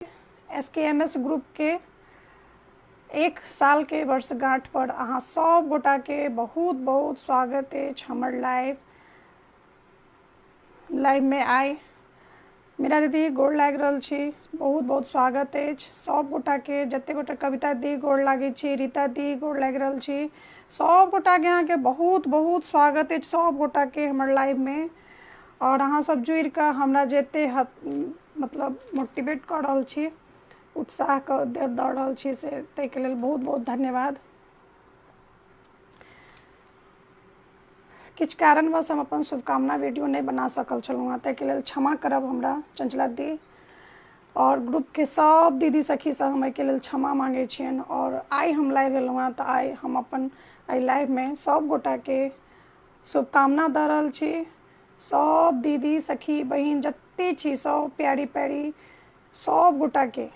S K M S ग्रुपके एक साल के वर्षगांठ पर अहाँ सब गोटा के बहुत बहुत स्वागत है हमर लाइव लाइव में आए मेरा दीदी गोड़ लागि रहल छी बहुत बहुत स्वागत है सब गोटा के जते गोटा कविता दी गोड़ लागे छी रीता दी गोड़ लागि रहल छी सब गोटा के अहाँ के बहुत बहुत स्वागत है सब गोटा के हमर लाइव में आओर अहाँ सब जुड़ि कऽ हमरा जे एते मतलब मोटिवेट कऽ रहल छी उत्साह कऽ दऽ रहल छी से ताहिके लेल बहुत बहुत धन्यवाद किछु कारणवश हम अपन शुभकामना वीडियो नहि बना सकल छलहुँ हँ ताहिके लेल क्षमा करब हमरा चंचला दी आओर ग्रुपके सब दीदी सखीसँ हम एहिके लेल क्षमा मांगे छियनि आओर आइ हम लाइव एलहुँ हँ तऽ आइ हम अपन एहि लाइवमे सब गोटाके शुभकामना दऽ रहल छी सब दीदी सखी बहिन जते छी सब प्यारी प्यारी सब गोटाके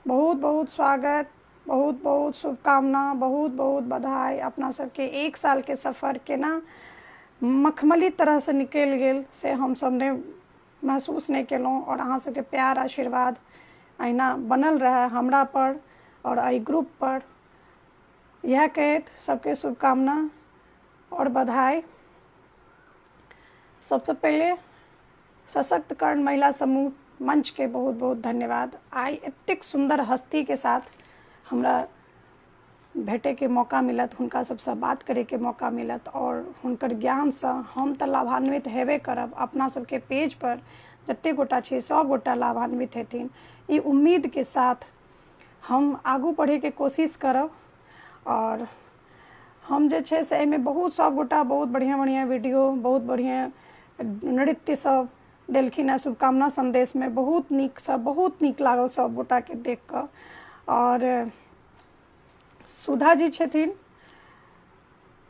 बहुत बहुत स्वागत बहुत बहुत शुभकामना बहुत बहुत बधाई अपना सबके एक साल के सफर केना मखमली तरह से निकल गेल से हम सब ने महसूस नहि केलहुँ आओर अहाँ सबके प्यार आशीर्वाद अहिना बनल रहए हमरा पर आओर एहि ग्रुप पर इएह कहैत सबके शुभकामना आओर बधाई सबसँ पहिले सशक्तकरण महिला समूह मंच के बहुत बहुत धन्यवाद आई एतेक सुंदर हस्ती के साथ हमरा भेटे के मौका मिलत हुनका सबसँ बात करे के मौका मिलत और हुनकर ज्ञान से हम तऽ लाभान्वित हेबे करब अपना सबके पेज पर जते गोटा छै सब गोटा लाभान्वित हेथिन ई उम्मीद के साथ हम आगू पढ़ैके कोशिश करब आओर हम जे छै से एहिमे बहुत सब गोटा बहुत बढ़िऑं बढ़िऑं वीडियो बहुत बढ़िऑं नृत्य सब देलखिन हँ शुभकामना सन्देशमे बहुत नीक सब बहुत नीक लागल सब गोटाके देख कऽ आओर सुधा जी छथिन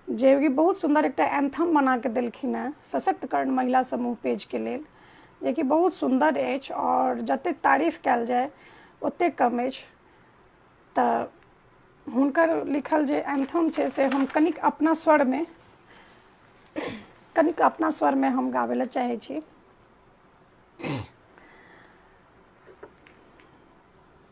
जे कि बहुत सुन्दर एकटा एंथम बना के देलखिन हेँ सशक्तकरण महिला समूह पेजके लेल जेकि बहुत सुन्दर अछि आओर जतेक तारीफ कयल जाय ओतेक कम अछि तऽ हुनकर लिखल जे एंथम छै से हम कनिक अपना स्वरमे कनिक अपना स्वरमे हम गाबै लए चाहै छी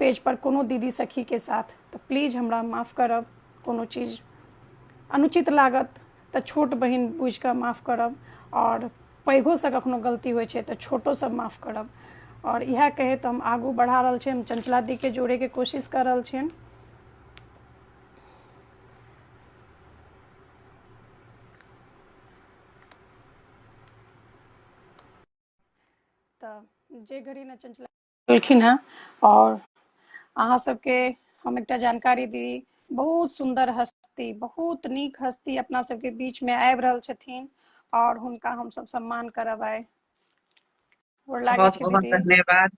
पेज पर कोनो दीदी सखी के साथ तऽ प्लीज हमरा माफ करब कोनो चीज अनुचित लागत तऽ छोट बहिन बुझि कऽ माफ करब आओर पैघोसँ कखनो गलती होइ छै तऽ छोटोसँ माफ करब आओर इएह कहैत हम आगू बढ़ा रहल छी हम चंचला दी के जोड़े के कोशिश कर रहल छियनि तऽ जे घड़ी ने चंचला केलखिन हँ आओर अहाँ सबके हम एकटा जानकारी दी बहुत सुन्दर हस्ती बहुत नीक हस्ती अपना सबके बीच में आबि रहल छथिन और हुनका हम सब सम्मान करब आइ गोर लागै बहुत छी बहुत दीदी धन्यवाद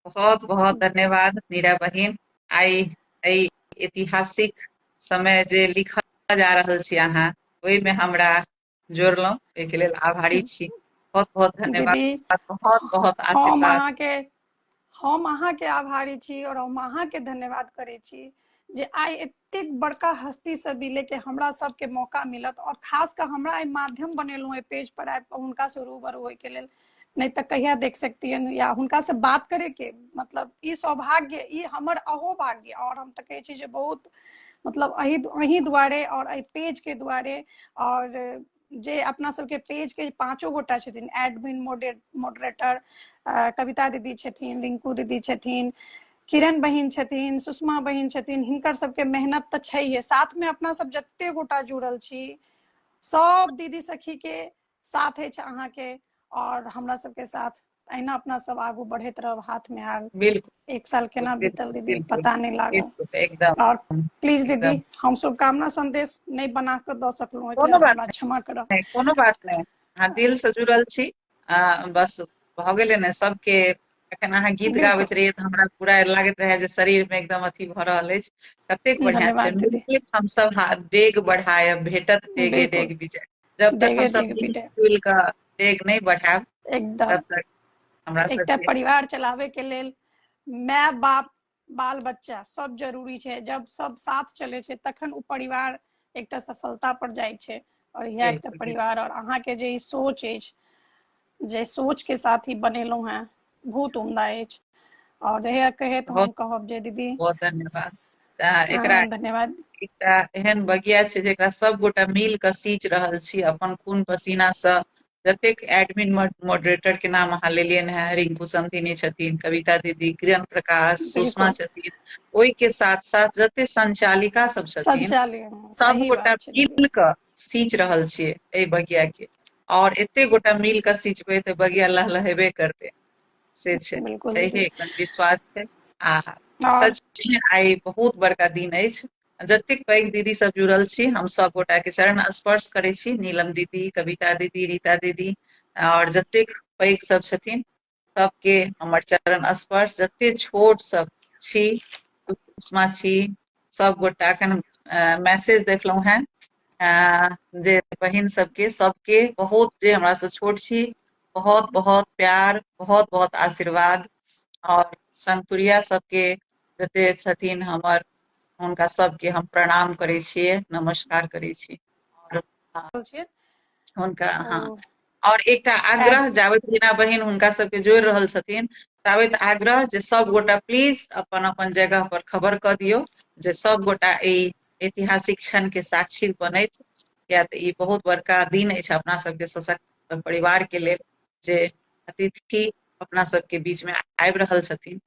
बहुत बहुत धन्यवाद मीरा बहिन आइ एहि ऐतिहासिक समय जे लिखल जा रहल छी अहाँ ओहिमे हमरा जोड़लहुँ एहिके लेल आभारी छी बहुत बहुत धन्यवाद दीदी बहुत बहुत हम आशीर्वाद अहाँके हम अहाँके आभारी छी और हम अहाँके धन्यवाद करै छी जे आइ एतेक बड़का हस्ती से मिले के हमरा सबके मौका मिलत और खास कर हमरा आइ माध्यम बनेलहुँ एहि पेज पर आबि कऽ हुनका से रूबरू होय के लेल नहि तऽ कहिया देख सकतियन या हुनका से बात करे के मतलब ई सौभाग्य ई हमर अहो भाग्य और हम तऽ कहे छी जे बहुत मतलब अही अही दुआरे और एहि पेज के दुआरे और जे अपना सबके पेज के पांचो गोटा छथिन एडमिन मॉडरेटर कविता दीदी छथिन रिंकू दीदी छथिन किरण बहिन छथिन सुषमा बहिन छथिन हिनकर सबके मेहनत तऽ छैहे साथ में अपना सब जते गोटा जुड़ल छी सब दीदी सखी के साथ अछि अहाँके और हमरा सबके साथ अहिना अपना सब आगू बढ़ैत रहब हाथ में आग बिल्कुल एक साल केना बीतल दीदी बिल्कुल, पता नहीं लागल बिल्कुल, एकदम और प्लीज दीदी एकदम। हम शुभकामना संदेश नहीं बना के द सकलहुँ कोनो एकरा बात हमरा क्षमा करब नहि कोनो बात नहि अहाँ दिल से जुड़ल छी आ बस भऽ गेलै ने सबके अखन अहाँ गीत बिल्कुल गाबैत रहियै तऽ हमरा पूरा लागैत रहै जे शरीर मे एकदम अथी भऽ रहल अछि कतेक बढ़िआँ छै धन्यवाद दीदी मिल हमसभ हा डेग बढ़ायब भेटत डेगे बिल्कुल डेग विजय जब तक डेगे हमसभ डेगे मिल पीटे जुल कऽ डेग नहि बढ़ायब एकदम तब तक हमरा एकटा सबके परिवार चलाबे के लेल माय बाप बाल बच्चा सब जरूरी छै जब सब साथ चले छै तखन ओ परिवार एकटा सफलता पर जाइ छै और यह एकटा परिवार और अहाँ के जे सोच अछि जे सोच के साथ ही बनेलहुँ हैं बहुत उमदा अछि और यह कहे तो हम कहब जे दीदी बहुत धन्यवाद हाँ, एकरा धन्यवाद एकटा एहन बगिया छै जेकरा सब गोटा मिल के सींच रहल छी अपन खून पसीना से जतेक एडमिन मॉडरेटर के नाम अहाँ लेलियनि हैं रिंकू समधिनी छथिन कविता दीदी किरण प्रकाश सुषमा छथिन ओहि के साथ साथ जते संचालिका सब छथिन सब गोटा मिल कऽ सींच रहल छियै एहि बगिया के और एते गोटा मिल कऽ सींचबै तऽ बगिया लहलहेबे करते से छै एहि विश्वास छै आ सच आइ बहुत बड़का दिन अछि जतेक पैघ दीदी सब जुड़ल छी हम सब गोटा के चरण स्पर्श करै छी नीलम दीदी कविता दीदी रीता दीदी और जतेक पैघ सब छथिन सबके हमर चरण स्पर्श जते छोट सब छी उष्मा छी सब गोटा एखन मैसेज देखलहुँ हैं जे बहिन सबके सबके बहुत जे हमरा से छोट छी बहुत बहुत प्यार बहुत बहुत आशीर्वाद और संतुरिया सबके जते छथिन हमर हुनका सबके हम प्रणाम करै छियै नमस्कार करै छी आओर हुनका हँ और एकटा आग्रह जाबे जेना बहिन हुनका सबके जोड़ रहल छथिन ताबे आग्रह जे सब गोटा प्लीज अपन अपन जगह पर खबर क दियो जे सब गोटा ई ऐतिहासिक क्षण के साक्षी बनैत या तऽ ई बहुत बड़का दिन अछि अपना सबके सशक्त परिवार के लेल जे अतिथि अपना सबके बीच में आबि रहल छथिन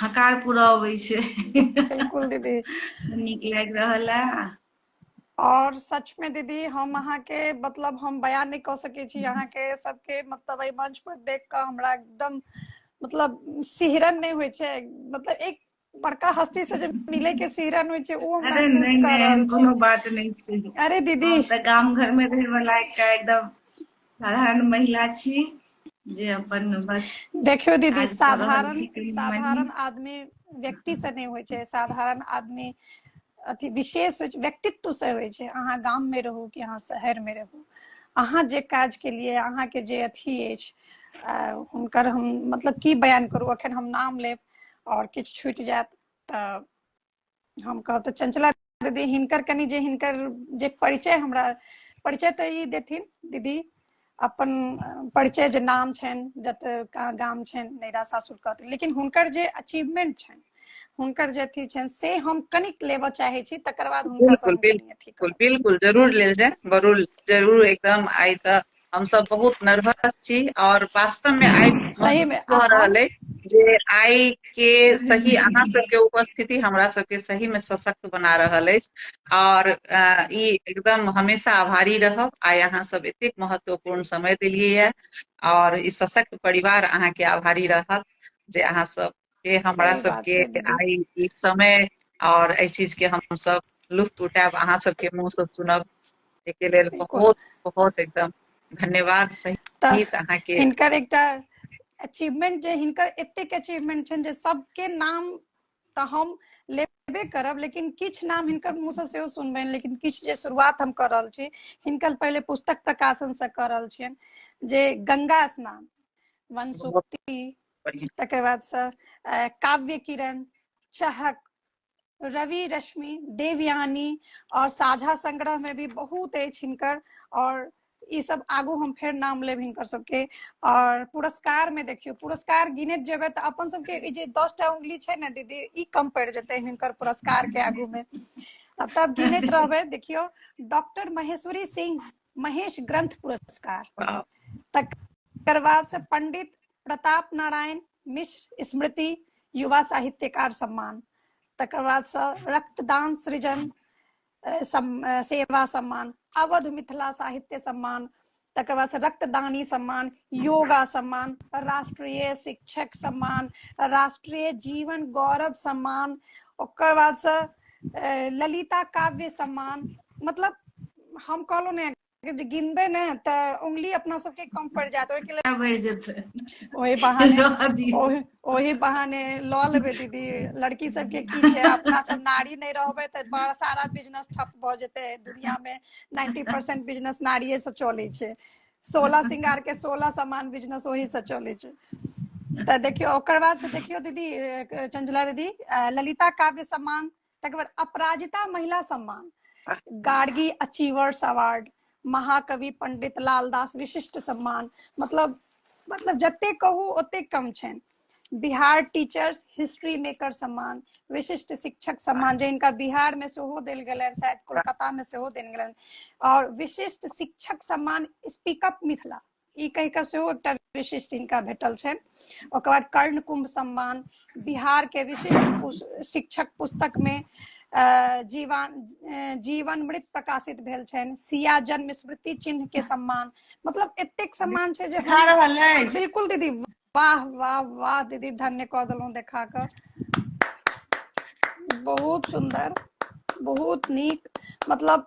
हकार पूरा अबै छै बिल्कुल दीदी नीक लागि रहल है और सच में दीदी हम अहाँ के मतलब हम बयान नहीं कह सके छी अहाँ के सबके मतलब एहि मंच पर देख के हमरा एकदम मतलब सिहरन नहीं हुए छे मतलब एक बड़का हस्ती से जे मिले के सिहरन होइ छै ओ हम अरे महसूस नहीं कर नहीं रहल एहन कोनो छी बात नहीं छै अरे दीदी हम तऽ गाम घर में रहे वाला एकटा एकदम साधारण महिला छी जे अपन बस देखियो दीदी काज कऽ रहल साधारण छी कनि मनि साधारण आदमी व्यक्ति से नहीं होइ छै साधारण आदमी अथी विशेष होइ छै व्यक्तित्व से होइ छै अहाँ गाम में रहू कि अहाँ शहर में रहू अहाँ जे काज के लिए अहाँ के जे अथी अछि हुनकर हम मतलब की बयान करू अखन हम नाम लेब और किछु छूटि जायत तऽ हम कहब तऽ चंचला दीदी हिनकर कनि जे हिनकर जे परिचय हमरा परिचय तऽ ई देथिन दीदी अपन परिचय जे नाम छनि जतऽ गाम छनि नैरा सासुर कहतै लेकिन हुनकर जे अचीवमेंट छनि हुनकर जे अथी छनि से हम कनिक लेबऽ चाहे छी तकर बाद हुनका बिल्कुल बिल्कुल जरूर लेल जाए जरूर जरूर एकदम आइ तऽ हम सब बहुत नर्वस छी और वास्तव में आइ सही में कह रहल है जे आइ के सही अहाँ सबके उपस्थिति हमरा सबके सही में सशक्त बना रहल अछि आओर ई एकदम हमेशा आभारी रहब आइ अहाँ सब एतेक महत्वपूर्ण समय देलियै यऽ आओर ई सशक्त परिवार अहाँके आभारी रहत जे अहाँ सब के हमरा सबके आइ ई समय आओर एहि चीज के हम सब लुफ्त उठायब अहाँ सबके मुँह से सुनब एहिके लेल बहुत बहुत एकदम धन्यवाद सहित अहाँके हिनकर एकटा अचीवमेंट जे हिनकर एतेक अचीवमेंट छनि जे सबके नाम तऽ हम लेबे करब लेकिन किछु नाम हिनकर मुँहसँ सेहो सुनबनि लेकिन किछु जे शुरुआत हम कऽ रहल छी हिनकर पहिले पुस्तक प्रकाशनसँ कऽ रहल छियनि जे गंगा स्नान वनसुक्ति तकर बादसँ अ, काव्य किरण चहक रवि रश्मि देवयानी और साझा संग्रह में भी बहुत अछि हिनकर और ई सब आगू हम फेर नाम लेब हिनकर सबके और पुरस्कार में देखियो पुरस्कार गिनत जेबे तऽ अपन सबके ई जे दस टा उंगली छै ने दीदी ई कम पड़ जेते हिनकर पुरस्कार के आगू में आ तब गिनत रहबे देखियो डॉक्टर महेश्वरी सिंह महेश ग्रंथ पुरस्कार वाह, तकर बाद से पंडित प्रताप नारायण मिश्र स्मृति युवा साहित्यकार सम्मान तकर बाद से रक्तदान सृजन सेवा सम्मान अवध मिथिला साहित्य सम्मान तकर बाद से रक्तदानी सम्मान योगा सम्मान राष्ट्रीय शिक्षक सम्मान राष्ट्रीय जीवन गौरव सम्मान ओकर बाद से ललिता काव्य सम्मान मतलब हम कहलहुँ ने जे गिनबै ने तऽ उंगली अपना सबके कम पड़ जायत ओहिके लेल बढ़ि जेतै ओहि बहाने रहऽ दियौ। ओहि- ओहि बहाने लऽ लेबै दीदी लड़की सबके की छै अपना सब नारी नहि रहबै तऽ बड़ा सारा बिजनेस ठप भऽ जेतै दुनिया मे नाइन्टी परसेंट बिजनेस नारिये से चलै छै सोलह श्रृंगार के सोलह सामान बिजनेस ओही से चलै छै तऽ देखियौ ओकर बाद से देखियौ दीदी अ, चंचला दीदी अ, ललिता काव्य सम्मान तकर बाद अपराजिता महिला सम्मान गार्गी अचीवर्स अवार्ड महाकवि पंडित लालदास विशिष्ट सम्मान मतलब मतलब जते कहू ओते कम छनि बिहार टीचर्स हिस्ट्री मेकर सम्मान विशिष्ट शिक्षक सम्मान जे इनका बिहार में सेहो देल गेलनि शायद कोलकाता में सेहो देल गेलनि और विशिष्ट शिक्षक सम्मान स्पीक अप मिथिला ई कहि कऽ सेहो एकटा विशिष्ट हिनका भेटल छनि ओकर बाद कर्ण कुंभ सम्मान बिहार के विशिष्ट शिक्षक पुस्तक मे जीवन जीवन मृत प्रकाशित भेल छनि सिया जन्म स्मृति चिन्ह के सम्मान मतलब एतेक सम्मान छै जे बिल्कुल दीदी वाह वाह वाह दीदी धन्य कऽ देलहुँ देखा कऽ बहुत सुंदर बहुत नीक मतलब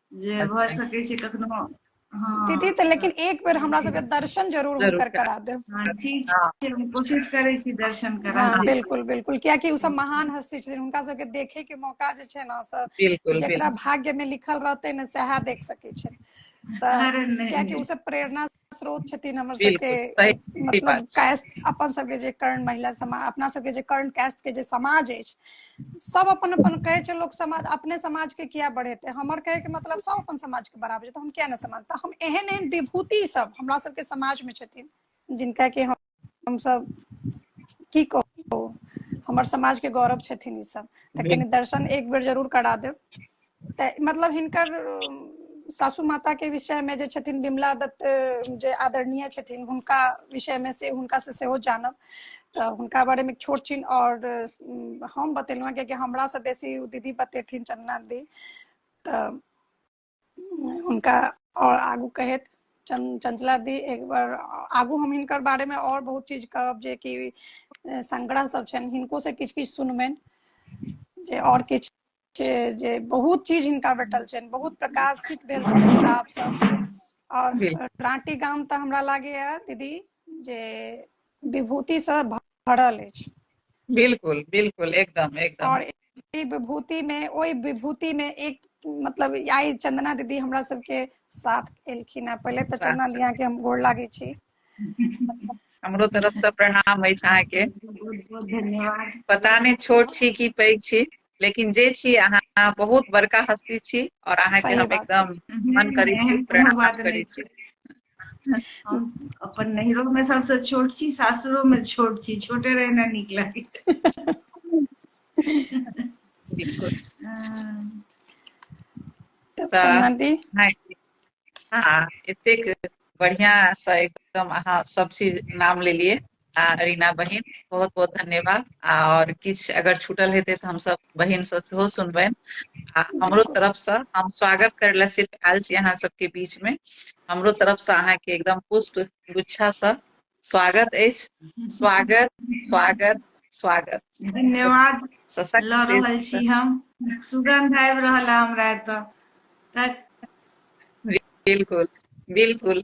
जे भऽ अच्छा सकै छै कखनो हँ दीदी तऽ लेकिन एक बेर हमरा सबके दर्शन जरूर जरूर हुनकर करा देब हँ, ठीक हँ छै हम कोशिश करै छी दर्शन करा हँ दी बिल्कुल बिल्कुल कियाकि ओ सब महान हस्ती छथिन हुनका सबके देखे के मौका जे छै ना से बिल्कुल जेकरा बिल्कुल भाग्य में लिखल रहते ने सएह देख सकै छै तऽ अरे नहि कियाकि ओ नहि सब प्रेरणा स्रोत छथिन हमर सबके मतलब कैस्ट अपन सबके जे कर्ण महिला समाज अपना सबके जे कर्ण कैस्ट के जे समाज अछि सब अपन अपन कहे छै लोक समाज अपने समाज के किया बढ़ेते हमर कहे के मतलब सब अपन समाज के बराबर छै तो हम किया न समाज तो हम एहन एहन विभूति सब हमरा सबके समाज में छथिन जिनका के हम हमसभ की कहू हमर समाज के गौरव छथिन ई सब तऽ कनि दर्शन एक बेर जरूर करा देब तऽ मतलब हिनकर अम, सासू माता के विषय में जे छथिन विमला दत्त अम, जे आदरणीय छथिन हुनका विषय में से हुनका से सेहो जानब तऽ हुनका बारे में छोट छिन और अम, हम बतेलहुँ हँ कियाकि हमरा से बेसी ओ दीदी बतेथिन चंदना दी तऽ हुनका आओर आगू कहैत चंचला दी एक बार आगू हम हिनकर बारे में और बहुत चीज कहब जे कि संग्रह सब छनि हिनको से किछु किछु सुनबनि जे और किछु जे बहुत चीज हिनका भेटल छनि बहुत प्रकाशित भेल छनि किताब सब और रांटी गाम तऽ हमरा लागैया दीदी जे विभूति से भरल अछि बिल्कुल बिल्कुल एकदम एकदम और ई विभूति में ओहि विभूति में एक मतलब आई चंदना दीदी हमरा सबके साथ एलखिन हैं पहले तो चंदना दिया के हम गोड़ लागे छी हमरो तरफ से प्रणाम अछि अहाँके धन्यवाद पता नहि छोट छी कि पैघ छी लेकिन जे छी अहाँ बहुत बड़का हस्ती छी और अहाँ के हम एकदम मन करै छी प्रणाम करै छी अपन नैहरो में सबसे छोट छी सासुरो में छोट छी छोटे रहना नीक लागे बिल्कुल हाँ एतेक बढ़िया से एकदम अहाँ सब चीज नाम लेलिए आ रीना बहिन बहुत बहुत धन्यवाद आ और किछ अगर छूटल हेतै तऽ हम सब बहिन से सेहो सुनबैन आ हमरो तरफ से हम स्वागत करै लए सिर्फ आयल छी अहाँ सबके बीच में हमरो तरफ से अहाँ के एकदम पुष्प गुच्छा से स्वागत अछि स्वागत स्वागत स्वागत धन्यवाद सशक्त लऽ रहल देश छी हम सुगंध आबि रहल है हमरा एतऽ तऽ बिल्कुल बिल्कुल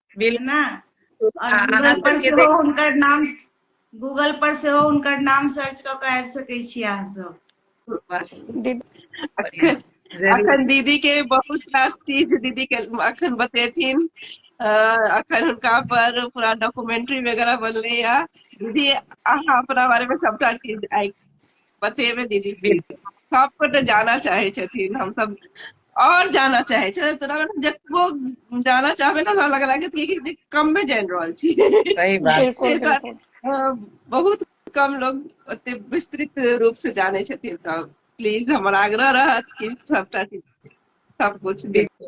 बिल्कुल गूगल पर सेहो हुनकर नाम गूगल पर सेहो हुनकर नाम सर्च कऽ कऽ आबि सकै छी अहाँ सब अखन दीदी के बहुत रास चीज दीदी के अखन बतेथिन अखन हुनका पर पूरा डॉक्यूमेंट्री वगैरह बनले या दीदी अहाँ अपना बारे में सबटा चीज आइ बतेबे दीदी बिल्कुल सबको तो जाना चाहे छथिन हम सब और जाना चाहे छे तोरा मतलब जतबो जाना चाहबे ना हमरा लग लागत कि कि कम में जान रहल छी सही बात बिल्कुल एहि दुआरे, बिल्कुल अ, बहुत कम लोग ओते विस्तृत रूप से जाने छथिन तऽ प्लीज हमर आग्रह रहत कि सबटा चीज सब कुछ बिल्कुल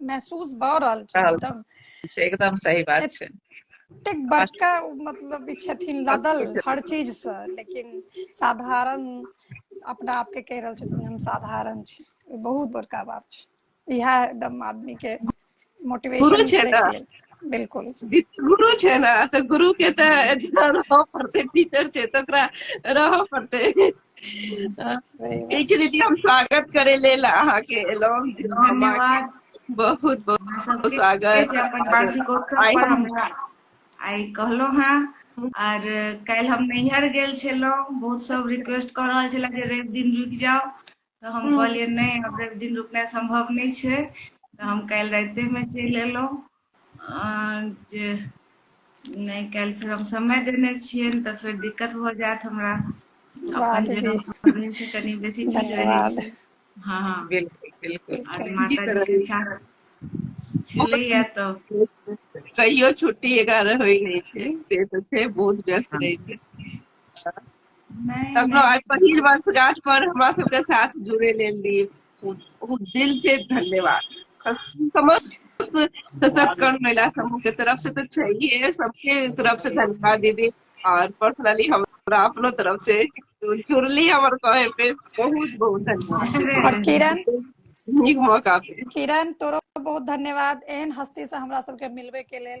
महसूस भऽ रहल छै एकदम एकदम सही बात छै एतेक बड़का मतलब छथिन लदल हर चीज से लेकिन साधारण अपना आप के कह रहल छथिन हम साधारण छी बहुत बड़का बात छै इहा एकदम आदमी के मोटिवेशन छै ना बिल्कुल गुरु छै ना तऽ गुरु के तऽ रहऽ पड़तै टीचर छै तऽ ओकरा रहऽ पड़तै ठीक छै दीदी हम स्वागत करे लेल अहाँ के एलहुँ धन्यवाद बहुत बहुत स्वागत अपन वार्षिकोत्सव पर हमरा आइ कहलहुँ हँ आर काल्हि हम नैहर गेल छलहुँ बहुत सब रिक्वेस्ट कऽ रहल छले जे रवि दिन रुकि जाओ तऽ हम हम्म। कहलियै नहि अब रवि दिन रुकनाइ संभव नहि छै तऽ हम काल्हि रातिमे चलि एलहुँ जे नहि काल्हि फेर हम समय देने छियै तऽ फेर दिक्कत भऽ जायत हमरा अपन जगह कनि बेसी ठीक रहै छै हँ हँ बिल्कुल बिल्कुल छलैया तऽ कहियो छुट्टी एगारह होइ नहि छै से तऽ छै बहुत व्यस्त रहै छै कखनो आइ पहिल वर्षगांठ पर हमरा सबके साथ जुड़े लेल लिए बहुत दिल से धन्यवाद समस्त सत्कर्म महिला समूह के तरफ से तो चाहिए सबके तरफ से धन्यवाद दीदी और पर्सनली हम अपनो तरफ से तो जुड़ली हमर कहे पे बहुत बहुत धन्यवाद और किरण नीक मौका पे किरण तोरो बहुत धन्यवाद एहन हस्ती से हमरा सबके मिलबे के लेल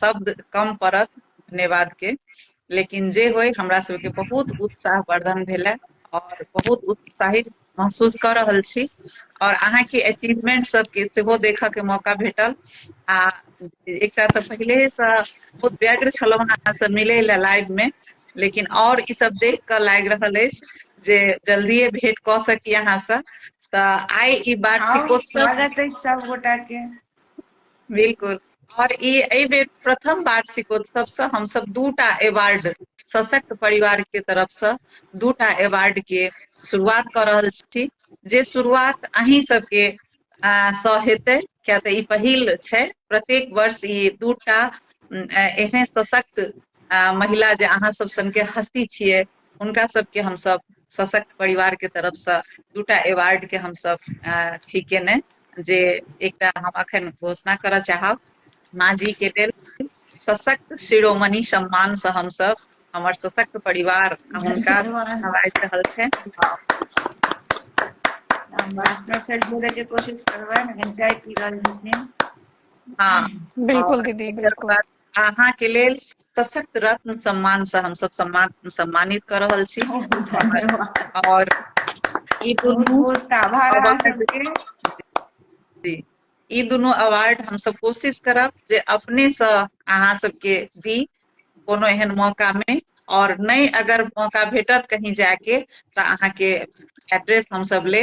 शब्द कम पड़त धन्यवाद के लेकिन जे होय हमरा सबके बहुत उत्साह वर्धन भेल है और बहुत उत्साहित महसूस कर रहल छी और अहाँ के अचीवमेंट सब के सेहो देखऽ के मौका भेटल आ एकटा तऽ पहिले से बहुत व्यग्र छलहुँ अहाँ से मिले ला लाइव में लेकिन और ई सब देख कऽ लागि रहल अछि जे जल्दिए भेंट कऽ सकी अहाँ से तऽ आइ ई बात स्वागत अछि सब गोटा के बिल्कुल और ई एहि बेर प्रथम वार्षिकोत्सव से हम सब दूटा अवार्ड सशक्त परिवार के तरफ से दूटा अवार्ड के शुरुआत कर रहल छी जे शुरुआत अहीं सबके सँ हेतै किया तऽ ई पहिल छै प्रत्येक वर्ष ई दूटा एहने सशक्त महिला जे अहाँ सब सन के हस्ती छियै हुनका सबके हमसब सशक्त परिवार के तरफ से दूटा अवार्ड के हमसब छी केने जे एकटा हम अखन घोषणा करऽ चाहब माँ जी के लेल सशक्त शिरोमणि सम्मान से हमसब हमर सशक्त परिवार हुनका नवाज रहल छै के कोशिश करबै लेकिन चाय पी रहल छथिन हाँ बिल्कुल दीदी बिल्कुल अहाँ के लेल सशक्त रत्न सम्मान से हम सब सम्मान सम्मानित कर रहल छी और ई दुनू आभार अहाँ सबके जी ई दुनू अवार्ड हम सब कोशिश करब जे अपने से अहाँ सबके दी कोनो एहन मौका में और नहीं अगर मौका भेटत कहीं जाके तो अहाँ के एड्रेस हम सब ले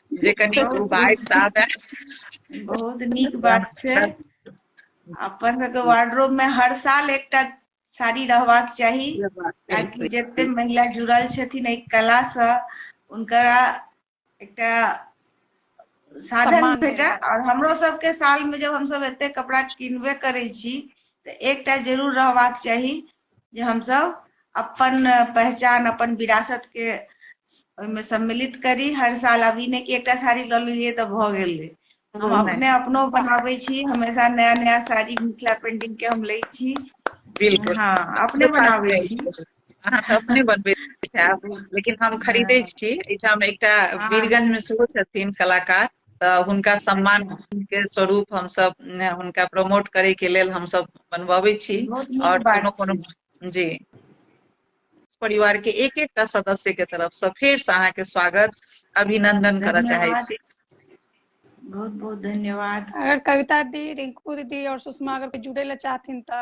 जे कनि बाढ़ि से आबे बहुत नीक बात छै अपन सबके वार्डरोब में हर साल एकटा साड़ी रहबाक चाही ताकि जते महिला जुड़ल छथिन एहि कला से उनकरा एकटा साधन सम्मान भेटै भेटै। और हमरो सबके साल में जब हम सब एते कपड़ा किनबे करै छी तऽ एकटा जरूर रहबाक चाही जे हम सब अपन पहचान अपन विरासत के ओहिमे सम्मिलित करी हर साल अभी ने कि एकटा साड़ी लऽ लेलियै तऽ भऽ गेलै हम हम्म, अपने अपनो बनाबै छी हमेशा नया नया साड़ी मिथिला पेंटिंग के हम लै छी बिल्कुल हाँ अपने बनाबै छी अहाँ तऽ अपने बनबै लेकिन हम खरीदै हाँ। छी एहिठाम एकटा हाँ। वीरगंज मे सेहो छथिन कलाकार तऽ हुनका सम्मान के स्वरूप हमसभ ने, हुनका प्रमोट करे के लेल हमसभ बनबबै छी बहुत नीक और बात कोनो कोनो छै जी परिवार के एक एकटा सदस्य के तरफ से फेर से अहाँ के स्वागत अभिनंदन करऽ चाहे धन्यवाद। छी बहुत बहुत धन्यवाद अगर कविता दी रिंकू दीदी और सुषमा अगर कोई जुड़े ला चाहथिन त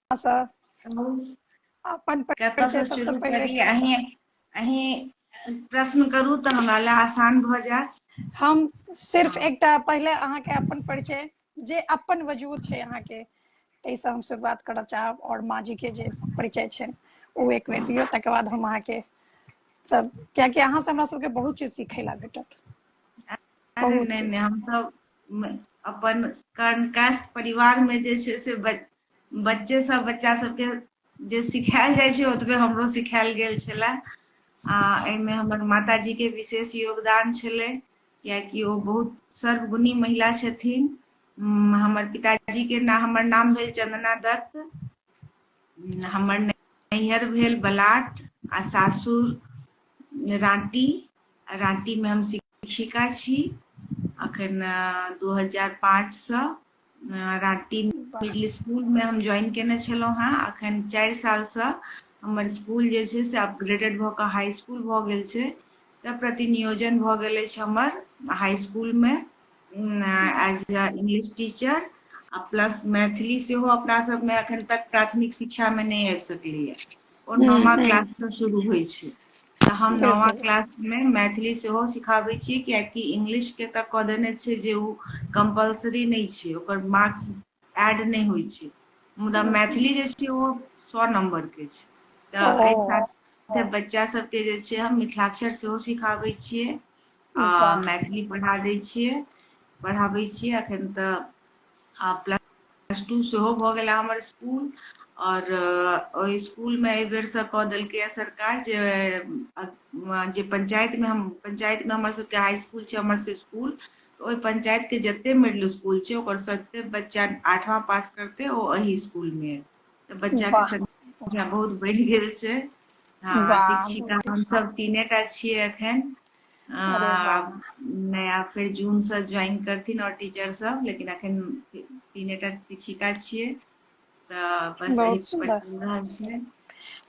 अपन कतयसँ शुरू करी अहीं अहीं प्रश्न करू तऽ हमरा लए आसान भऽ जायत हम सिर्फ एकटा पहिले अहाँके अपन परिचय जे अपन वजूद छै अहाँके ताहिसँ हम शुरुआत करऽ चाहब आओर माँ जी के जे परिचय छै ओ एक बेर दियौ तकर बाद हम अहाँके सब कियाकि अहाँ से हमरा सबके बहुत चीज सीखै ला भेटत बहुत नहि नहि हम सब अपन कर्णकास्ट परिवार में जे छै से बच्चे सब बच्चा सबके जे सिखायल जाइ छै ओतबे हमरो सिखायल गेल छले आ एहिमे हमर माताजी के विशेष योगदान छलै कियाकि ओ बहुत सर्वगुणी महिला छथिन हमर पिताजी के ना हमर नाम भेल चंदना दत्त हमर नैहर भेल बलाट आ सासुर राँटी राँटी में हम शिक्षिका छी अखन दू हजार पाँच सए राँटी वाह मिडिल स्कुल मे हम ज्वाइन केने छलहुँ हेँ अखन चारि सालसँ हमर स्कुल जे छै से अपग्रेडेड भऽ कऽ हाई स्कुल भऽ गेल छै तऽ प्रतिनियोजन भऽ गेल अछि हमर हाई स्कुल मे एज ए इंग्लिश टीचर आ प्लस मैथिली सेहो अपना सबमे एखन तक प्राथमिक शिक्षा मे नहि आबि सकलैया ओ हूँ नमा हूँ क्लास से शुरू होइ छै तऽ हम नौवा बिलकुल क्लास मे मैथिली सेहो सिखाबै छी कियाकि इंगलिश के तऽ कऽ देने छै जे उ कम्पलसरी नै छै ओकर मार्क्स एड नै होइ छै। मुदा मैथिली जे छै ओ सौ नम्बर के छै तऽ ओ अय साल फेर बच्चा सबके जे छै हम मिथिलाक्षर सेहो सिखाबै छियै आ वाह मैथिली पढ़ा दै छियै पढ़ाबै छियै अखन तऽ आ प्लस टू सेहो भऽ गेला हमर स्कूल आओर ओहि स्कूलमे एहि बेरसँ कऽ देलकैए सरकार जे जे पञ्चायतमे हम पञ्चायतमे हमर सभके हाई स्कूल छै हमर सभके स्कूल ओहि पञ्चायतके जते मिडिल स्कूल छै ओकर सभके बच्चा आठवाँ पास करतै ओ एहि स्कूलमे तऽ बच्चाके संख्या बहुत बढ़ि गेल छै हँ शिक्षिका हमसभ तीने टा छियै एखन नया फेर जूनसँ ज्वाइन करथिन आओर टीचर सब लेकिन अखन तीनेटा शिक्षिका छियै तऽ बस बहुत सुंदर चल रहल छै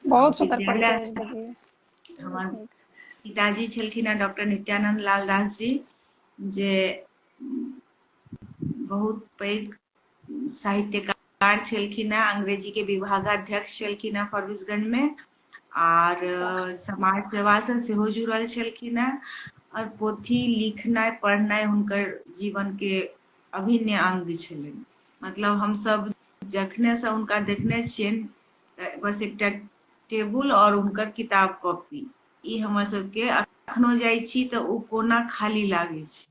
बहुत सुंदर परिचय हमर पिताजी छलखिन हेँ डॉक्टर नित्यानंद लाल दास जी जे बहुत पैघ साहित्यकार छलखिन हेँ अंग्रेजीके विभागाध्यक्ष छलखिन हेँ फरबिसगंजमे आर समाज सेवासँ सेहो जुड़ल छलखिन हेँ आओर पोथी लिखनाइ पढ़नाइ हुनकर जीवनके अभिन्न अंग छलनि मतलब हमसभ जखनेसँ हुनका देखने छियनि बस एकटा टेबुल आओर हुनकर किताब कॉपी ई हमर सबके अखनो जाइ छी तऽ ओ कोना खाली लागै छै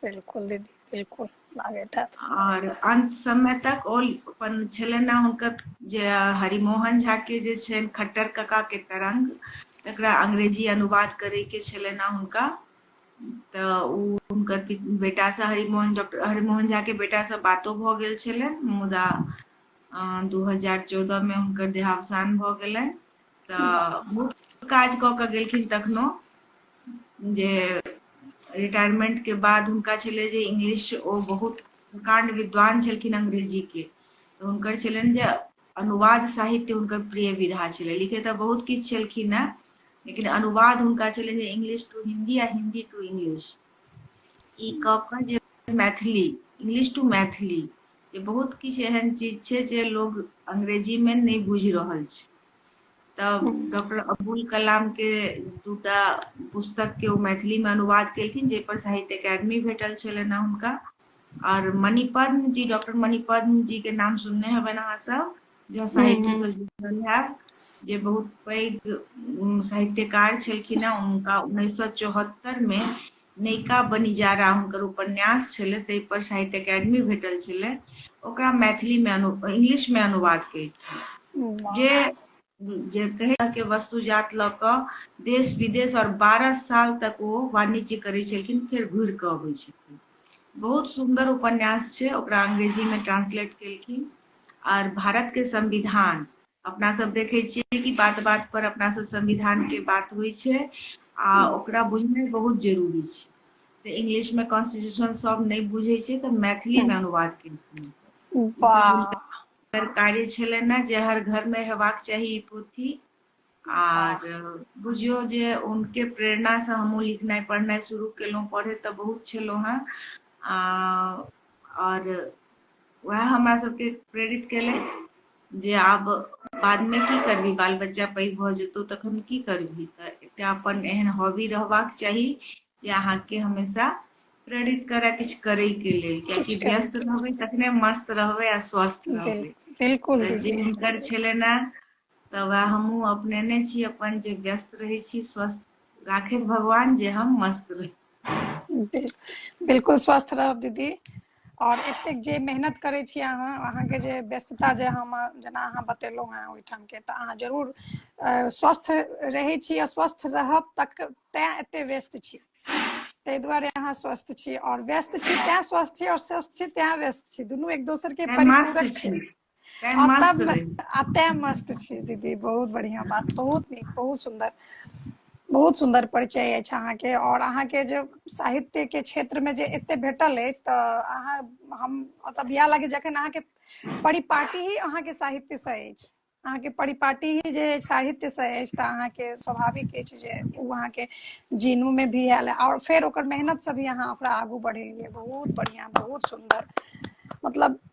बिल्कुल दीदी बिल्कुल लागैत हैत आओर अंत समय तक ओ अपन छलनि हेँ हुनकर जे हरिमोहन झा के जे छनि खट्टर कका के तरंग तकरा अंग्रेजी अनुवाद करे के छलनि हेँ हुनका तऽ ओ हुनकर पि- बेटासँ हरिमोहन डॉक्टर हरिमोहन झाके बेटासँ बातो भऽ गेल छलनि मुदा दू हजार चौदहमे हुनकर देहावसान भऽ गेलनि तऽ बहुत काज कऽ कऽ गेलखिन तखनो जे रिटायरमेंट के बाद हुनका छलै जे इंग्लिश ओ बहुत प्रकांड विद्वान छलखिन अंग्रेजी के तऽ हुनकर छलनि जे अनुवाद साहित्य हुनकर प्रिय विधा छलै लिखे तऽ बहुत किछु छलखिन हेँ लेकिन अनुवाद हुनका छलनि जे इंग्लिश टू हिंदी आ हिंदी टू इंग्लिश ई कऽ कऽ जे मैथिली इंग्लिश टू मैथिली जे बहुत किछु एहन चीज छै जे लोग अंग्रेजी में नहि बुझि रहल छै तऽ डॉक्टर अब्दुल कलाम के दूटा पुस्तक के ओ मैथिली में अनुवाद केलखिन जाहि पर साहित्य एकेडमी भेटल छलनि हैं हुनका और मणिपद्म जी डॉक्टर मणिपद्म जी के नाम सुनने हेबनि अहाँ सब जो साहित्य से जुड़ल है जे बहुत पैघ साहित्यकार छलखिन हैं उनका उन्नैस सौ चौहत्तर में नयका बनिजारा हुनकर उपन्यास छलै ताहि पर साहित्य अकेडमी भेटल छलै ओकरा मैथिली में अनु इंग्लिश में अनुवाद केलखिन जे जे कहै के वस्तुजात लऽ कऽ देश विदेश और बारह साल तक ओ वाणिज्य करै छलखिन फेर घुरि कऽ अबै छलखिन बहुत सुंदर उपन्यास छै ओकरा अंग्रेजी में ट्रांसलेट केलखिन आर भारत के संविधान अपना सब देखै छियै कि बात बात पर अपना सब संविधान के बात होइ छै आ ओकरा बुझनाइ बहुत जरूरी छै तऽ इंग्लिश मे कॉन्स्टिट्यूशन सब नहि बुझै छै तऽ मैथिली मे अनुवाद केलखिन कार्य छलनि ने जे हर घर मे हेबाक चाही ई पोथी आर बुझियौ जे हुनके प्रेरणा सँ हमहुँ लिखनाइ पढ़नाइ शुरू केलहुँ पढ़ैत तऽ बहुत छलहुँ हेँ आ आओर उएह हमरा सभके प्रेरित केलथि जे आब बादमे की करबी बाल बच्चा पैघ भऽ जेतौ तखन की करबी तऽ एकटा अपन एहन हॉबी रहबाक चाही जे अहाँके हमेशा प्रेरित करय किछु करयके लेल कियाकि व्यस्त रहबै तखने मस्त रहबै आ स्वस्थ रहबै बिल्कुल जे हुनकर छलनि हेँ तऽ वएह हमहूँ अपनेने छी अपन जे व्यस्त रहै छी स्वस्थ राखैत भगवान जे हम मस्त रही बिल्कुल स्वस्थ रहब दीदी आओर एतेक जे मेहनत करै छी अहाँ अहाँके जे व्यस्तता जे हम जेना अहाँ बतेलहुँ हेँ ओहिठामके तऽ अहाँ जरूर स्वस्थ रहै छी आ स्वस्थ रहब तक तैँ एते व्यस्त छी ताहि दुआरे अहाँ स्वस्थ छी आओर व्यस्त छी तैँ स्वस्थ छी आओर स्वस्थ छी तैँ व्यस्त छी दुनू एक दोसरके परिपूरक छी अतः मस्त छी दीदी बहुत बढ़िया बात बहुत नीक बहुत सुंदर बहुत सुंदर परिचय अछि अहाँके और अहाँके जे साहित्य के क्षेत्र में जे एते भेटल अछि तऽ अहाँ हम मतलब इएह लागे जखन अहाँके परिपाटी ही अहाँके साहित्य से अछि अहाँके परिपाटी ही जे साहित्य से अछि तऽ अहाँके स्वाभाविक अछि जे ओ अहाँके जीनू में भी आयल और फिर ओकर मेहनत से भी अहाँ ओकरा आगू बढ़ेलियै बहुत बढ़िया बहुत सुंदर मतलब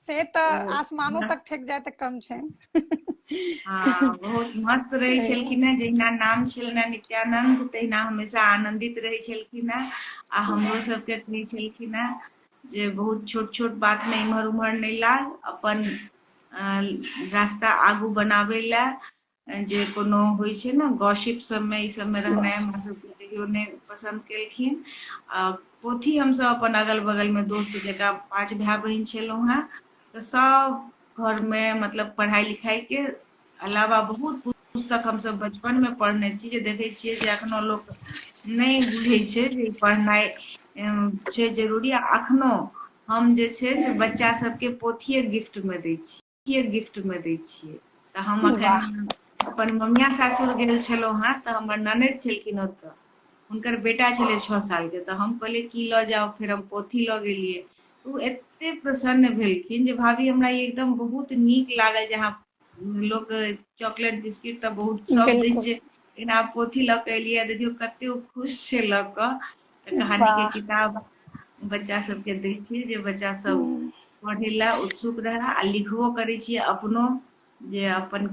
से तऽ आसमानो तक ठेक जाय तऽ कम छै हाँ, बहुत मस्त रहै छलखिन हेँ जहिना नाम छलनि हेँ नित्यानन्द तहिना हमेशा आनन्दित रहै छलखिन हेँ आ हमरो सभके कहै छलखिन हेँ जे बहुत छोट छोट बातमे इम्हर उम्हर नहि लाग अपन अ, रास्ता आगू बनाबै लए जे कोनो होइ छै ने गॉसिप सबमे ई सबमे रहनाइ हमरा सबके कहियो नहि पसन्द केलखिन आ पोथी हमसभ अपन अगल बगलमे दोस्त जकाँ पाँच भाय बहिन छलहुँ हेँ तऽ सभ घरमे मतलब पढ़ाइ लिखाइके अलावा बहुत पुस्तक हमसभ बचपनमे पढ़ने छी जे देखै छियै जे एखनो लोक नहि बुझै छै जे पढ़नाइ छै जरूरी आ एखनो हम जे छै से बच्चा सबके पोथिए गिफ्टमे दै छी के गिफ्ट में दै छियै तऽ हम अखन अपन ममिया सासुर गेल छलहुँ हेँ तऽ हमर ननद छलखिन ओतऽ हुनकर बेटा छलै छओ सालके तऽ हम कहलियै की लऽ जाउ फेर हम पोथी लऽ गेलियै ओ एते प्रसन्न भेलखिन जे भाभी हमरा ई एकदम बहुत नीक लागल जे अहाँ लोक चॉकलेट बिस्किट तऽ बहुत सब दै छै लेकिन आब पोथी लऽ कऽ एलियै देखियौ कते ओ खुश छै लऽ कऽ कहानी के किताब बच्चा सबके दै छियै जे बच्चा सब हूँ पढ़ै लए उत्सुक रहै आ लिखबो करै छियै अपनो जे अपन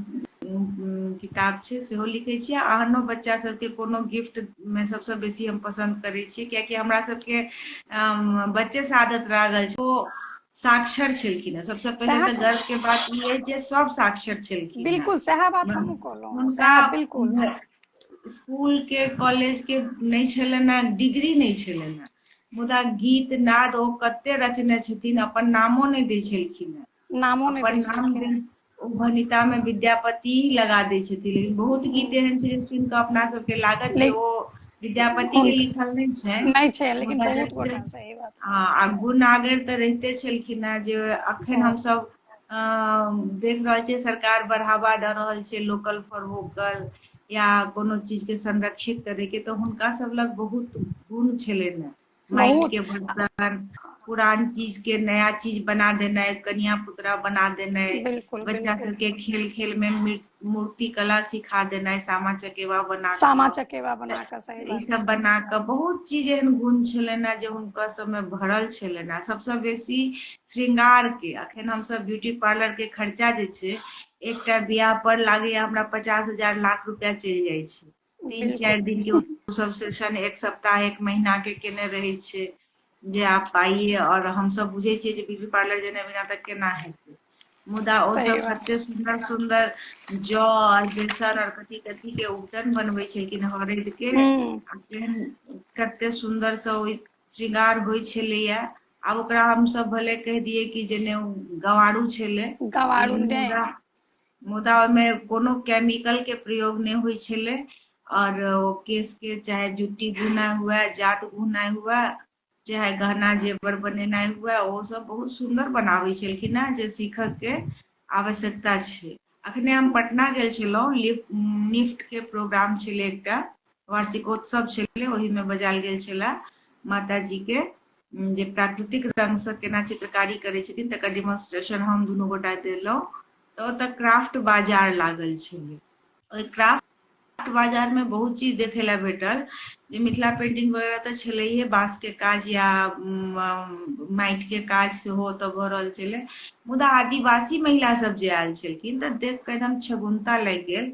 किताब छै सेहो लिखै छियै आ आनो बच्चा सबके कोनो गिफ्ट मे सबसँ बेसी हम पसन्द करै छियै कियाकि हमरा सबके बच्चे से आदत लागल छै ओ साक्षर छलखिन हेँ सबसँ पहिले सएह तऽ गर्व के बात ई अछि जे सब साक्षर छलखिन हेँ बिल्कुल सएह बात हमहूँ कहलहुँ हँ हुनका सएह बिल्कुल स्कूल के कॉलेज के नहि छलनि डिग्री नहि छलनि हेँ मुदा गीत नाद ओ कते रचने छथिन अपन नामो नहि दै छलखिन हेँ नामो नहि अपन दै नाम छलखिन देन- ओ भनिता में विद्यापति लगा दै छथिन लेकिन बहुत गीत एहन छै जे सुनि कऽ अपना सबके लागत जे ले- ओ विद्यापति के हुन- लिखल नहि छै नहि छै लेकिन मुदा बहुत जते गोटा सही बात छै आ आ गुण आगर तऽ रहिते छलखिन हेँ जे अखन बहुत हमसभ देख रहल छियै सरकार बढ़ावा दऽ रहल छै लोकल फॉर वोकल या कोनो चीजके संरक्षित करैके तऽ हुनका सब लग बहुत गुण छलनि हेँ माटिके बर्तन पुरान चीजके नया चीज बना देनाइ कनिया पुतरा बना देनाइ बच्चा सबके खेल खेलमे मृत मूर्ति कला सिखा देनाइ सामा चकेवा बना सामा चकेवा बना कऽ सही ई सब बना कऽ बहुत चीज एहन गुण छलनि हैं जे हुनका सबमे भरल छलनि हैं सबसँ बेसी श्रृंगार के अखन हमसब ब्यूटी पार्लर के खर्चा जे छै एकटा बियाह पर लागैया हमरा पचास हजार लाख रुपया चलि जाइ छै तीन चारि दिन के ओ सब सेशन एक सप्ताह एक महीना के केने रहै छै जे आप आइए और हम सब बुझे छियै जे ब्यूटी पार्लर जेने बिना तक केना हेतै मुदा ओ सब एते सुंदर सुंदर जौ और बेसन और कथी कथी के उबटन बनबै छलखिन हरद के केहन कते सुंदर से ओ श्रृंगार होइ छलैया आब ओकरा हम सब भले कह दिए कि जेने गवारू छले गवारू मुदा ओहिमे कोनो केमिकलके प्रयोग नहि होइ छलै आओर ओ केशके चाहे जुट्टी गुनाइ हुए जात गुनाइ हुए चाहे गहना जेवर बनेनाइ हुए ओसभ बहुत सुन्दर बनाबै छलखिन हेँ जे सीखयके आवश्यकता छै अखने हम पटना गेल छलहुँ लिफ्ट निफ्टके प्रोग्राम छलै एकटा वार्षिकोत्सव छलै ओहिमे बजायल गेल छला माता जी के जे प्राकृतिक रंग से केना चित्रकारी करै छथिन तकर डिमोन्स्ट्रेशन हम दुनू गोटा देलहुँ तऽ ओतऽ क्राफ्ट बाजार लागल छलै ओहि क्राफ्ट बाजार मे बहुत चीज देखे ला भेटल जे मिथिला पेंटिंग वगैरह तऽ छलैहे बाँस के काज या माटि के काज सेहो ओतऽ भऽ रहल छलै मुदा आदिवासी महिला सब जे आयल छलखिन तऽ देख कऽ एकदम छगुनता लागि गेल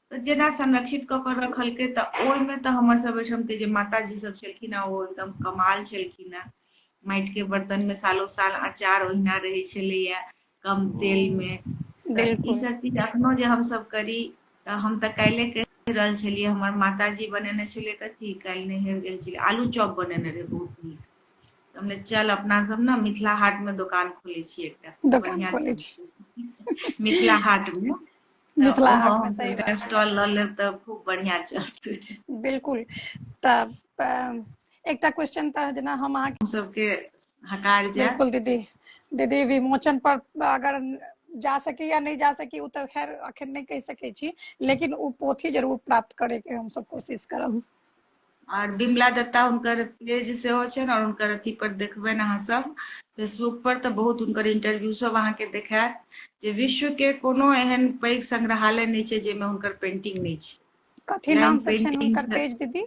तऽ जेना संरक्षित कऽ कऽ रखलकै तऽ ओहिमे तऽ हमर सब ओहिठाम के जे माताजी सब छलखिन हेँ ओ एकदम कमाल छलखिन हेँ माटि के बर्तन मे सालो साल अचार ओहिना रहै छलैया कम तेल हूँ मे तऽ ई बिल्कुल सब चीज अखनो जे हमसभ करी तऽ हम तऽ काल्हि कहि रहल छलियै हमर मातााजी बनेने छलै तऽ की काल्हि नैहर गेल छलै आलू चौप बनेने रहै बहुत नीक तने चल अपना सब ने मिथिला हाट मे दोकान खोले छियै एकटा दोकान बढ़िआँ खोलै छी च मिथिला हाटमे मिथिला हाट में सही बात स्टॉल ल लेब त खूब बढ़िया चलते बिल्कुल त एकटा क्वेश्चन त जना हम अहाँ हम सबके हकार जाए बिल्कुल दीदी दीदी विमोचन पर अगर जा सके या नहीं जा सके तो खैर अखन नहीं कह सके छी लेकिन वो पोथी जरूर प्राप्त करे के हम सब कोशिश करब आर बिमला दत्ता हुनकर पेज सेहो छनि आओर हुनकर अथी पर देखबनि अहाँ सब फेसबुक पर तऽ बहुत हुनकर इंटरव्यू सब अहाँके देखायत जे विश्व के कोनो एहन पैघ संग्रहालय नहि छै जाहिमे हुनकर पेंटिंग नहि छै कथी Line नाम से छनि painting हुनकर से- पेज दीदी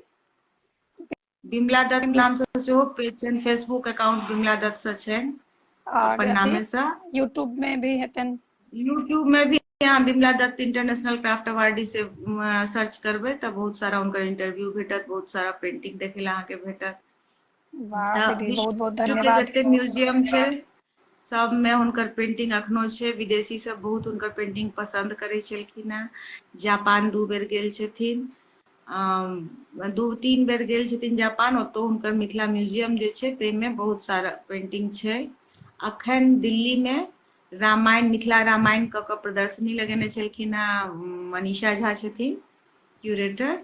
बिमला दत्त बिमला- नाम से सेहो पेज छनि फेसबुक अकाउंट बिमला दत्त से छनि आओर अपन अथी नामे से यूट्यूब में भी हेतनि यूट्यूब में भी अहाँ Bimla Dutt international craft awardee से सर्च करबे तब बहुत सारा उनकर इंटरव्यू भेटत बहुत सारा पेंटिंग देखे ला अहाँ के भेटत बहुत बहुत धन्यवाद जते म्यूजियम छे सब में उनकर पेंटिंग अखनो छे विदेशी सब बहुत उनकर पेंटिंग पसंद करे छलखिन हैं जापान दू बेर गेल छथिन दू तीन बेर गेल छथिन जापान ओतो उनकर मिथिला म्यूजियम जे छे ते में बहुत सारा पेंटिंग छे अखन दिल्ली में रामायण मिथिला रामायण कऽ कऽ प्रदर्शनी लगेने छलखिन हँ मनीषा झा छथिन क्यूरेटर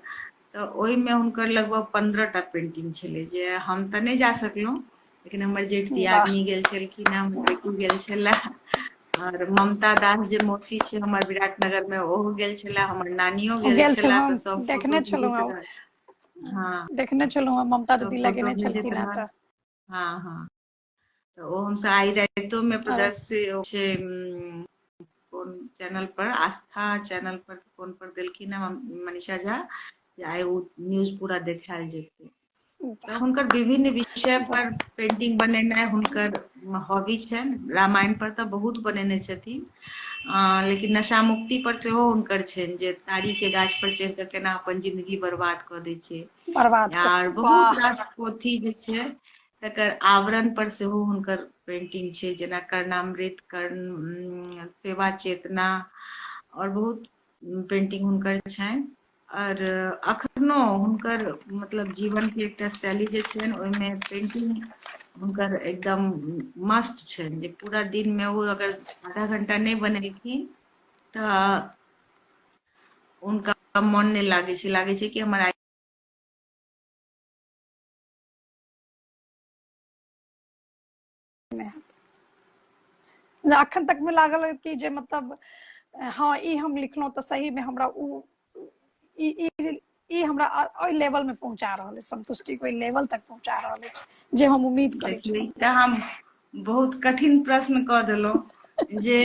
तऽ ओहिमे हुनकर लगभग पंद्रह टा पेंटिंग छलै जे हम तऽ नहि जा सकलहुँ लेकिन हमर जेठ दियादनी गेल छलखिन हँ हमर बेटी गेल छलए आओर ममता दास जे मौसी छै हमर विराटनगर मे ओहो गेल छलए हमर नानियो गेल गेल छलए छलहुँ तऽ सब देखने फोटो छलहुँ भेजैत रहल हँ देखने छलहुँ ममता दीदी लगेने छलखिन हँ तऽ हँ हँ तऽ ओ हमसभ आइ रातिओमे प्रदर्शित छै कोन चैनल पर आस्था चैनल पर कोन पर देलखिन हँ मनीषा झा जे आइ ओ न्यूज पूरा देखायल जेतै तऽ हुनकर विभिन्न विषय पर पेंटिंग बनेनाइ हुनकर हॉबी छनि रामायण पर तऽ बहुत बनेने छथिन लेकिन नशा मुक्ति पर सेहो हुनकर छनि जे तारी के गाछ पर चढ़ि कऽ केना अपन जिंदगी बर्बाद कऽ दै छै आर बहुत रास पोथी जे छै तकर आवरण पर सेहो हुनकर पेंटिंग छै जेना कर्णामृत कर्ण सेवा चेतना और बहुत पेंटिंग हुनकर छनि और अखनो हुनकर मतलब जीवन के एकटा शैली जे छनि ओहिमे पेंटिंग हुनकर एकदम मस्ट छनि जे पूरा दिन में वो अगर आधा घंटा नहीं बनेलखिन तो उनका मन नहीं लागे लागे कि हमारा में है जे अखन तक में लागल कि जे मतलब हाँ ई हम लिखलहुँ तऽ सही में हमरा उ ई ई ई हमरा अ- ओहि लेवल में पहुंचा रहल अछि संतुष्टि के ओहि लेवल तक पहुंचा रहल अछि जे हम उम्मीद करै छी नहि तऽ हम बहुत कठिन प्रश्न कऽ देलहुँ जे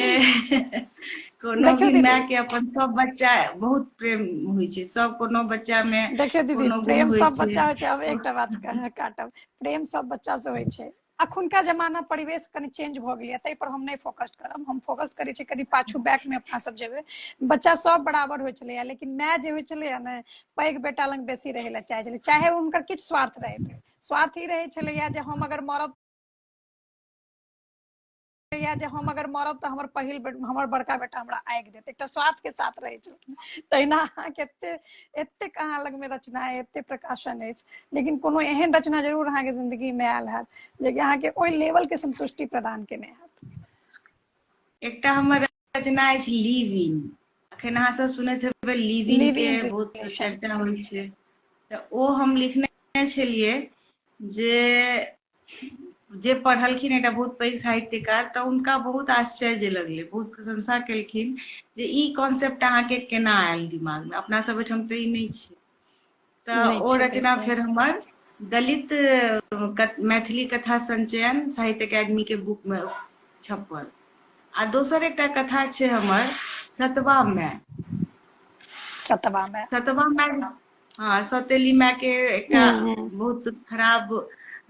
कोनो भी माय के अपन सब बच्चा बहुत प्रेम होइ छै सब कोनो बच्चा मे देखियो दीदी प्रेम सब बच्चा होइ छै अब एकटा बात काटब प्रेम सब बच्चा से होइ छै अखुनका जमाना परिवेश कनि चेंज भऽ गेलै ताहि पर हम नहि फोकस करब हम फोकस करै छी कनि पाछू बैक मे अपना सब जेबै बच्चा सब बराबर होइ छलैया लेकिन माय जे होइ छलैया ने पैघ बेटा लग बेसी रहै लए चाहै छलै चाहे हुनकर किछु स्वार्थ रहैत स्वार्थ ई रहै छलैया जे हम अगर मरब या जे हम अगर मरब तऽ हमर पहिल बे- हमर बड़का बेटा हमरा आगि देत एकटा स्वार्थ के साथ रहै छलखिन तहिना अहाँके एते एतेक अहाँ लगमे रचना अइ एते प्रकाशन अछि लेकिन कोनो एहन रचना जरूर अहाँके जिंदगी मे आयल हैत जेकि अहाँके ओहि लेवल के संतुष्टि प्रदान केने हैत एकटा हमर रचना अछि लिविन अखन अहाँ सब सुनैत हेबै लिविन के बहुत चर्चा होइ छै तऽ ओ हम लिखने छलियै जे जे पढ़लखिन एकटा बहुत पैघ साहित्यकार तऽ हुनका बहुत आश्चर्य लगलै बहुत प्रशंसा केलखिन जे ई कॉन्सेप्ट अहाँके केना आयल दिमागमे अपना सब ओहिठाम तऽ ई नहि छै तऽ ओ रचना फेर हमर दलित मैथिली कथा संचयन साहित्य अकादमी के बुक में छपल आ दोसर एकटा कथा छै हमर सतवा में सतवा में सतवा में हाँ सतेली माय के एकटा हम्म, हम्म। बहुत खराब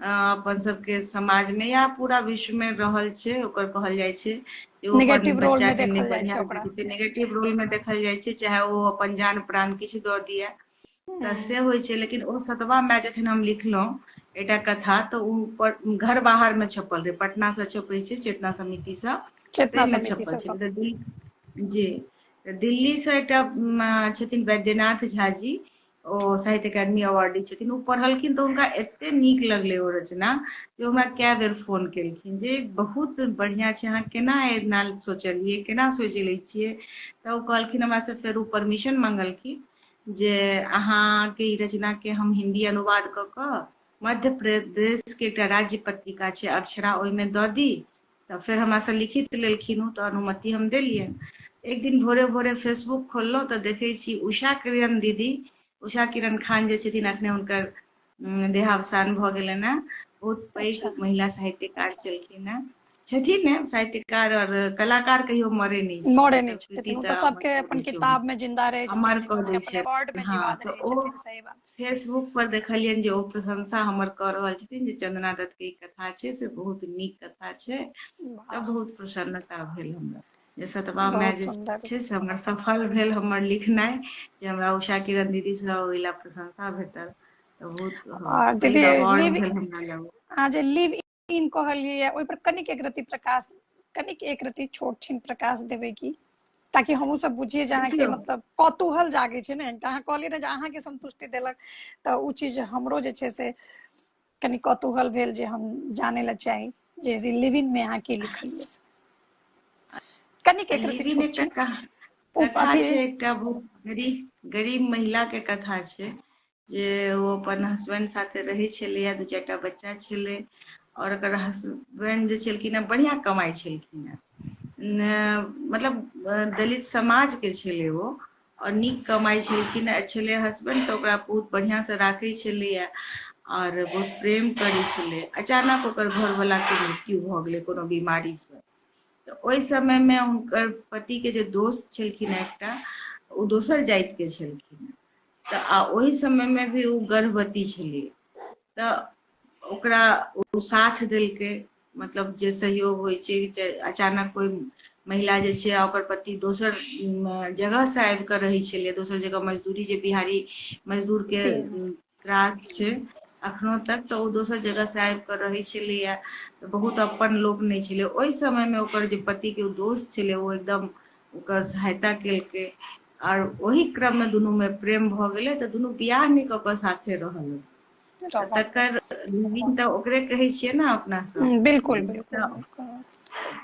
अपन सबके समाज में या पूरा विश्व में रहल छै ओकर कहल जाइ छै नेगेटिव रोल में देखल जाय छै ओकरा नेगेटिव रोल में देखल जाय छै चाहे ओ अपन जान प्राण किछु दऽ दिए तऽ हूँ से होइ छै लेकिन ओ सतबा माय जखन हम लिखलहुँ एकटा कथा तऽ ओ घर बाहर मे छपल रहे पटना से छपे छै चेतना समिति से चेतना ताहिमे समिति छपल सब सब छलै जी तऽ दिल्लीसँ एकटा छथिन वैद्यनाथ झा जी ओ साहित्य अकादमी अवार्डी छथिन ओ पढ़लखिन तऽ हुनका एते नीक लगलै ओ रचना जे हमरा कए बेर फोन केलखिन जे बहुत बढ़िआँ छै अहाँ केना एना सोचलियै केना सोचि लै छियै तऽ ओ कहलखिन हमरासँ फेर ओ परमिशन मंगलखिन जे अहाँके ई रचनाके हम हिन्दी अनुवाद कऽ कऽ मध्य प्रदेशके एकटा राज्य पत्रिका छै अक्षरा ओहिमे दऽ दी तऽ फेर हमरासँ लिखित लेलखिन ओ तऽ अनुमति हम देलियनि एक दिन भोरे भोरे फेसबुक खोललहुँ तऽ देखै छी उषा किरण दीदी उषा किरण खान जे छथिन अखने हुनकर देहावसान भऽ गेलनि हेँ बहुत पैघ अच्छा। महिला साहित्यकार छलखिन हेँ छथिन ने साहित्यकार और कलाकार कहियो मरे नहि छै मरे नहि छथिन ओ तऽ सबके अपन किताब में जिंदा रहे छथिन अमर कऽ दै छै अवार्ड में हाँ, जीवाद रहे छथिन सही बात फेसबुक पर देखलियनि जे ओ प्रशंसा हमर कऽ रहल छथिन जे चंदना दत्त के ई कथा छै से बहुत नीक कथा छै तऽ बहुत प्रसन्नता भेल हमरा जे सतबा में जे छै से हमर सफल भेल हमर लिखनाइ जे हमरा उषा किरण दीदी से ओहि ला प्रशंसा भेटल तऽ बहुत दीदी लिव आ जे लिव तीन कहलियै ओहि पर कनिक एक रति प्रकाश कनिक एक रति छोट छिन प्रकाश देबै की ताकि हमहूँ सब बुझिए जे अहाँके देखियौ। मतलब कौतूहल जागे छै ने तऽ अहाँ कहलियै ने जे अहाँके संतुष्टि देलक तऽ ओ चीज हमरो जे छै से कनि कौतूहल भेल जे हम जाने ला चाही जे लिविंग में अहाँ की लिखलियै से कनिक एक रति लिविन छोट एकटा छिन कहा- ओ कथा अथी- छै एकटा बहुत गरीब गरीब महिला के कथा छै जे ओ अपन हस्बैंड साथे रहै छलैए दू चारि टा बच्चा छलै आओर ओकर हस्बैंड जे छलखिन हेँ बढ़िआँ कमाइ छलखिन हेँ मतलब दलित समाजके छलै ओ आओर नीक कमाइ छलखिन हेँ छलै हस्बैंड तऽ ओकरा बहुत बढ़िआँसँ राखै छलैए आओर बहुत प्रेम करै छलै अचानक ओकर घरवलाके मृत्यु भऽ गेलै कोनो बीमारीसँ तऽ ओहि समयमे हुनकर पतिके जे दोस्त छलखिन एकटा ओ दोसर जातिके छलखिन तऽ आ ओहि समयमे भी ओ गर्भवती छलै तऽ ओकरा ओ साथ देलकै मतलब जे सहयोग होइ छै जे अचानक कोइ महिला जे छै आ ओकर पति दोसर जगह से आबि कऽ रहै छलै दोसर जगह मजदूरी जे बिहारी मजदूर के जी त्रास छै अखनो तक तऽ ओ दोसर जगह से आबि कऽ रहै छलैया बहुत अपन लोक नहि छलै ओहि समय मे ओकर जे पति के ओ दोस्त छलै ओ एकदम ओकर सहायता केलकै आर ओहि क्रम में दुनू में प्रेम भ गेले तो दुनू बियाह नहीं क के साथे रहल तकर लिविंग तऽ ओकरे कहै छियै ने अपना सब हम्म, बिल्कुल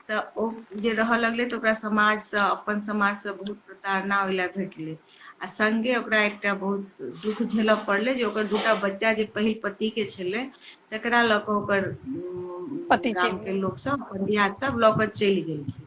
तऽ ओ जे रहऽ लगलै तऽ ओकरा समाजसँ अपन समाजसँ बहुत प्रताड़ना ओहि लए भेटलै आ संगे ओकरा एकटा बहुत दुख झेलऽ पड़लै जे ओकर दूटा बच्चा जे पहिल पति के छलै तकरा लऽ कऽ ओकर गामके लोकसभ अपन दियाद सब लऽ कऽ चलि गेलखिन